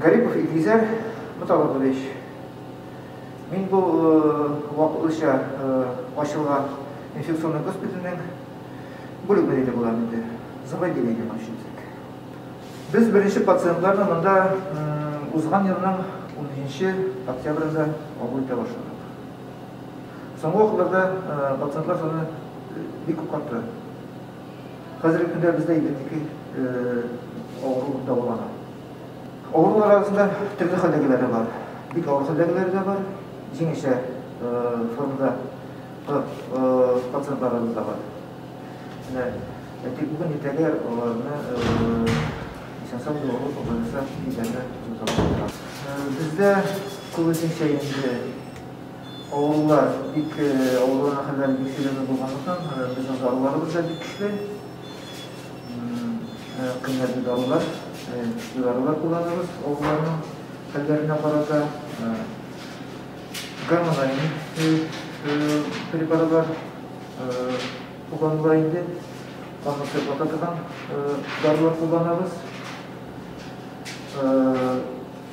Гарипов Илгизәр Муталыбович, мин бу вакытлыча ачылган инфекционный госпитальнең бүлек мөдире булам инде. Заводили дигән ачылдык. Без беренче пациентларны монда узган елның 13 октябрендә кабул итә башладык. Соңгы вакытларда пациентлар саны бик күп артты. Хәзерге көндә бездә 52 авыру дәвалана. Авырулар арасында төрле хәлдәгеләре бар. Бик авыр хәлдәгеләре дә бар, җиңелчә формада пациентларыбыз да бар. Менә тик бүген иртәгә аларны исән-сау юлларга кабул итәргә язалар. Бездә күбесенчә инде Авыллар бик авылларга хәлләре бик сәләмә булганлыктан, безнең даруларыбыз да бик көчле. Кыйммәтле дарулар, көчле дарулар кулланабыз авылларның хәлләренә карата. Гормональный препаратлар кулланыла инде. Канны сыйфата торган дарулар кулланабыз.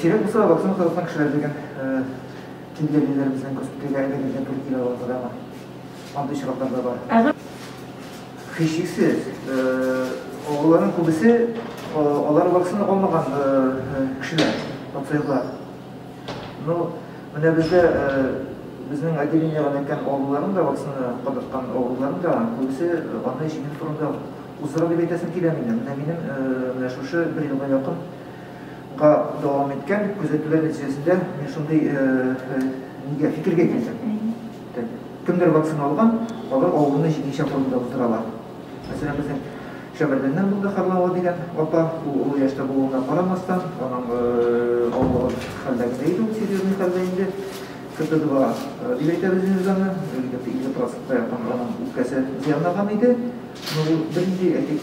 Сирәк булса вакцина кадалган кешеләр дигән җөмләлеләр безнең госпитальгә әле генә туры килә алса да бар. Андый очраклар да бар. Һичшиксез, аларның күбесе алар вакцина алмаган кешеләр, пациентлар. Ну, менә бездә безнең отделениегә эләккән авыруларның да вакцина кадаткан авыруларның да күбесе аны җиңел формада уздыра дип әйтәсем килә минем. Менә минем менә шушы бер елга якын га дәвам иткән күзәтүләр нәтиҗәсендә мин шундый нигә фикергә килдем. Кемдер вакцина алган, алар авыруны җиңүче формада булдыралар. Мәсәлән, безнең Шәмәрдәннән булды Харлава дигән апа, ул олы яшьтә булуына карамастан, аның авыру хәлдә генә иде, ул серьезный хәлдә инде. КТ-2 дип әйтәбез инде аны, егет 50 процентка якын аның үпкәсе зыянлаган иде. Но ул бернинди, әйтик,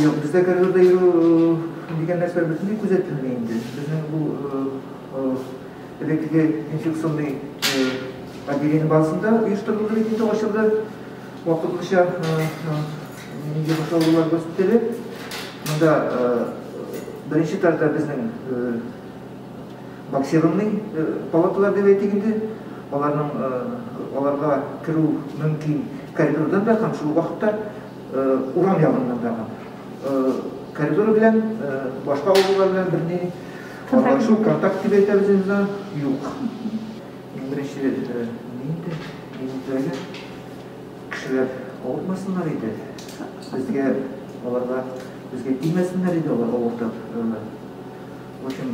Юк, бездә коридорда йөрү дигән нәрсә бөтенләй күзәтелми инде. Безнең бу элеккеге инфекционный отделение базасында оештырылды бит инде ачылды. Вакытлыча нинди башлаулар госпитале. Монда беренче тарда безнең боксированный палаталар дип әйтик инде. Аларның аларга керү мөмкин коридордан да һәм шул вакытта Урам ягыннан да коридор белән башка авыллар белән берни аралашу, контакт дип әйтәбез инде, юк. Беренче инде инде кешеләр авырмасыннар иде. Безгә аларга безгә тимәсеннәр иде алар авыртып. В общем,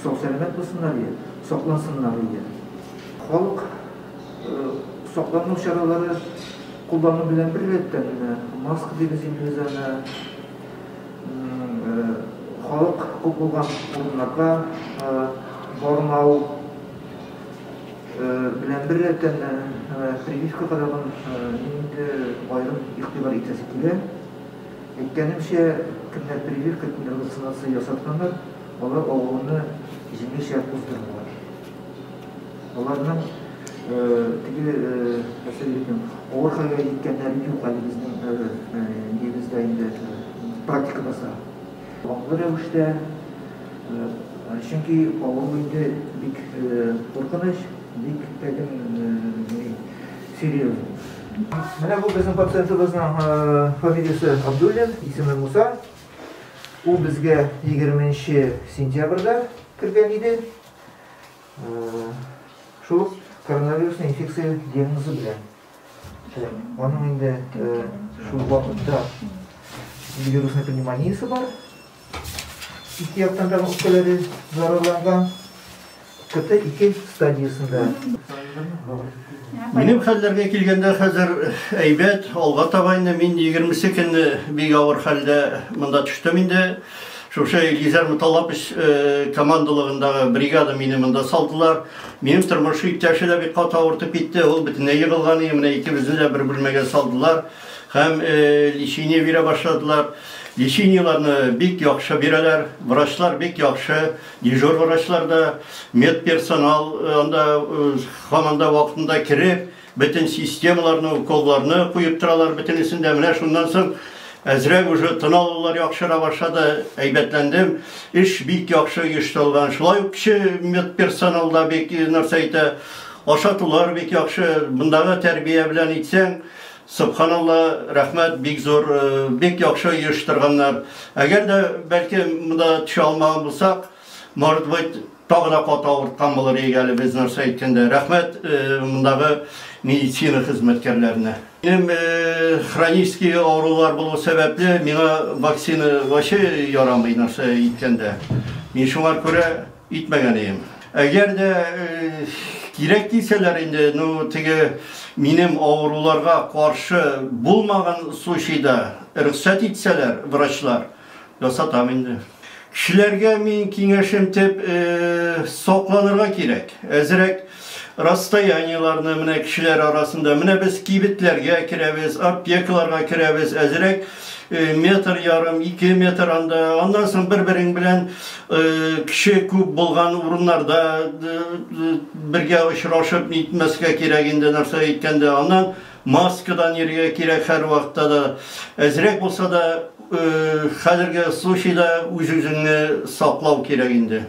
сау-сәламәт булсыннар иде, саклансыннар иде. Халык Саклану чаралары куллану белән беррәттән генә, маска дибез инде без аны, халык күп булган урыннарга бармау белән беррәттән, прививка кадагын инде аерым игътибар итәсе килә. Әйткәнемчә, кемнәр прививка, кемнәр вакцинация ясатканнар, алар авыруны җиңелчә уздырдылар. Аларның теге әсәрләрнең авыр хәлгә җиткәннәре юк әле безнең нигездә инде практикабызда. Аңлы рәвештә, чөнки авыру инде бик куркыныч, бик тәген серьезный. Менә бу безнең пациентыбызның фамилиясе Абдуллин, исеме Муса. Ул безгә егерменче сентябрьдә кергән иде. Шул ук коронавирусный инфекция диагнозы белән. Аның инде шул вакытта вирусный пневмониясе бар. Ике яктан да үпкәләре зарарланган. КТ ике стадиясендә. Минем хәлләргә килгәндә хәзер әйбәт, алга таба инде мин 20 көнне бик авыр хәлдә монда төштем инде. Шушы Илгизәр Муталлапович командалыгындагы бригада мине монда салдылар. Минем тормыш иптәше дә бик каты авыртып китте. Ул бөтенләй егылган иде. Менә икебезне дә бер бүлмәгә салдылар һәм лечение бирә башладылар. Лечениеләрне бик яхшы бирәләр. Врачлар бик яхшы. Дежур врачлар да, медперсонал анда һаман да вакытында кереп, Бөтен системаларны, уколларны куеп торалар бөтенесен дә. Менә шуннан соң әзрәк уже тын алулар яхшыра башлады, әйбәтләндем. Эш бик яхшы оештырылган. Шулай ук кече медперсонал да бик нәрсә итә. Ашатулар бик яхшы. Мондагы тәрбия белән әйтсәң, Собханалла, рәхмәт бик зур, бик яхшы оештырганнар. Әгәр дә, бәлки, монда төшә алмаган булсак, Может быть, тагы да каты авырткан булыр иде әле без нәрсә әйткәндә. Рәхмәт мондагы медицина хезмәткәрләренә. Минем хронический авырулар булу сәбәпле, миңа вакцина вообще ярамый нәрсә әйткәндә. Мин шуңар күрә итмәгән ием. Әгәр дә кирәк дисәләр инде, ну теге минем авыруларга каршы булмаган случайда рөхсәт итсәләр врачлар, Ясатам инде. Кешеләргә мин киңәшем теп, сокланырга кирәк. Әзерәк расстояниеларны менә кешеләр арасында, менә без кибетләргә керәбез, аптекаларга керәбез, әзерәк метр ярым, ике метр анда, аннан соң бер-берең белән кеше күп булган урыннарда бергә очрашып нитмәскә кирәк инде нәрсә әйткәндә. Аннан Маскадан йөрергә кирәк һәрвакытта да. Әзрәк булса да, хәзерге случайда үз-үзеңне саклау кирәк инде.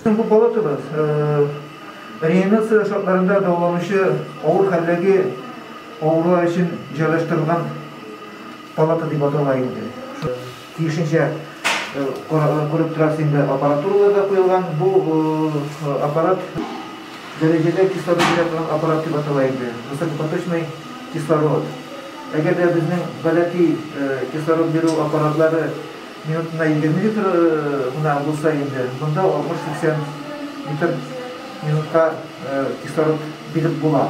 Бүген бу палатабыз реанимация шартларында дәваланучы авыр хәлдәге авырулар өчен җайлаштырылган палата дип атала инде. Тиешенчә күреп торасыз инде, аппаратуралар да куелган. Бу аппарат дәрәҗәдә кислород бирә торган аппарат дип атала инде, высокопоточный кислород. Әгәр дә безнең гадәти кислород бирү аппаратлары минутына егерме литр гына булса инде, монда алтмыш-сиксән литр минутка кислород биреп була.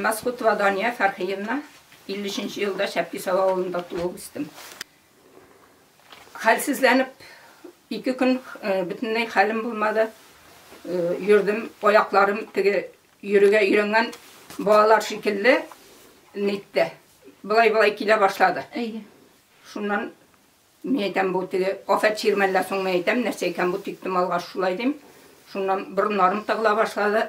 Мәскутова Дания Фәрхиевна, 53 елда Шәпкисау авылында туып үстем. Хәлсезләнеп, ике көн бөтенләй хәлем булмады. Йөрдем, аякларым теге Йөрергә өйрәнгән балалар шикелле ник тә болай-болай килә башлады. Әйе. Шуннан мин әйтәм, бу теге афәт чирмәллә соң мин әйтәм, нәрсә икән бу тиктем алгач шулай дим. Шуннан борыннарым тыгыла башлады,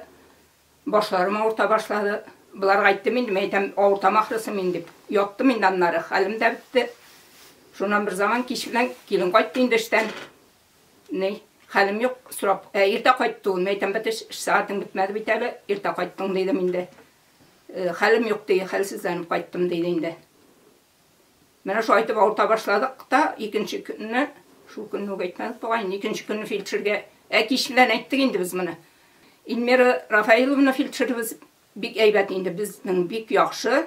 башларым авырта башлады. Боларга әйттем инде, мин әйтәм, авыртам ахрысы мин дип. Яттым инде аннары, хәлем дә бетте. Шуннан берзаман кич белән килен кайтты инде эштән. Ни, хәлем юк, сорап. Ә иртә кайтты ул. Мин әйтәм, бит, эш сәгатең бетмәде бит әле, иртә кайттың, дидем инде. Хәлем юк, ди, хәлсезләнеп кайттым, диде инде. Менә шулай итеп авырта башладык та, икенче көнне, шул көнне үк әйтмәдек бугай, икенче көнне фельдшергә, ә кич белән әйттек инде без моны. Ильмира Рафаиловна фельдшерыбыз Бик әйбәт инде безнең бик яхшы,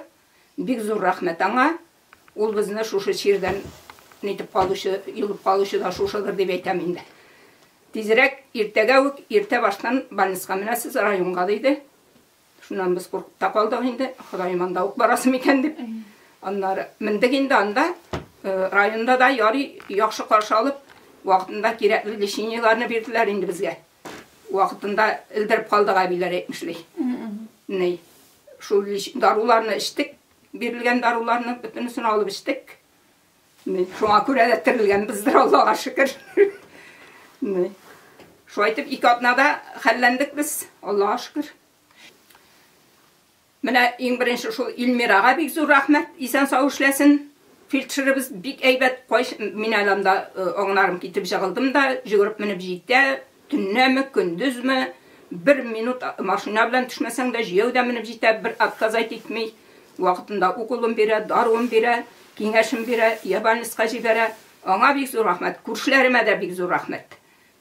бик зур рәхмәт аңа, ул безне шушы чирдән нитеп калучы, йолып калучы да шушыдыр дип әйтәм инде. Тизрәк иртәгә үк иртә баштан больниска менәсез районга диде. Шуннан без куркып та калдык инде, Ходаем анда ук барасы микән дип. Аннары мендек инде анда, районда да ярый яхшы каршы алып, вакытында кирәкле лечениеләрне бирделәр инде безгә. Вакытында элдереп калдык әбиләр әйтмешли. Ни, шул даруларны эчтек, бирелгән даруларны бөтенесен алып эчтек. Ни, шуңа күрә дә терелгәнбездер, Аллага шөкер. Ни. Шулай итеп ике атнада хәлләндек без, Аллага шөкер. Менә иң беренче шул Ильмирага бик зур рәхмәт, исән-сау эшләсен. Фельдшерыбыз бик әйбәт, кайс, мин әле анда аңнарым китеп җыгылдым да, йөгереп менеп җитә, төннәме, көндезме, бер минут машина белән төшмәсәң дә, җәяү дә менеп җитә, бер отказать итми, вакытында уколын бирә, даруын бирә, киңәшен бирә, йә больницага җибәрә. Аңа бик зур рәхмәт. Күршеләремә дә бик зур рәхмәт.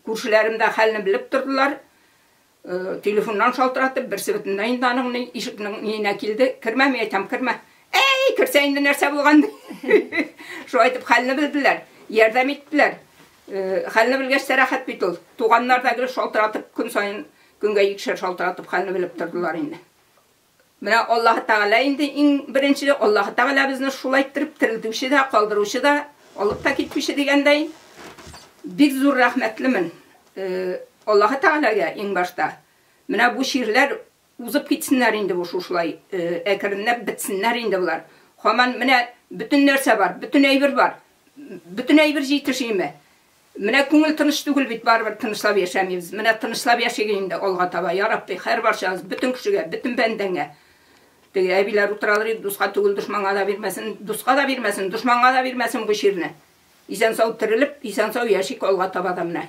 Күршеләрем дә хәлне белеп тордылар. Телефоннан шалтыратып, берсе бөтенләй инде аның ни ишекнең ниенә килде, кермәми әйтәм, кермә. Әй, керсә инде нәрсә булган ди. Шулай итеп хәлне белделәр, ярдәм иттеләр. Хәлне белгәч тә рәхәт бит ул. Туганнар да гел шалтыратып, көн саен, көнгә икешәр шалтыратып хәлне белеп тордылар инде. Менә Аллаһы Тәгалә инде иң беренче, Аллаһы Тәгалә безне шулай иттереп терелтүче дә, калдыручы да, алып та китүче дигәндәй. Бик зур рәхмәтлемен Аллаһы Тәгаләгә иң башта. Менә бу чирләр узып китсеннәр инде бу шушылай, әкренләп бетсеннәр инде болар. Һаман менә бөтен нәрсә бар, бөтен әйбер бар. Бөтен әйбер җитешиме? Менә күңел тыныч түгел бит, барыбер тынычлап яшәмибез. Менә тынычлап яшиге инде алга таба, я Рабби, хәрбарчабыз, бөтен кешегә, бөтен бәндәңә. Теге әбиләр утыралар иде, дуска түгел, дошманга да бирмәсен, дуска да бирмәсен, дошманга да бирмәсен бу чирне. Исән-сау терелеп, исән-сау яшик алга таба да менә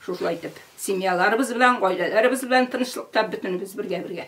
шушылай итеп. Семьяларыбыз белән, гаиләләребез белән тынычлыкта бөтенебез бергә-бергә.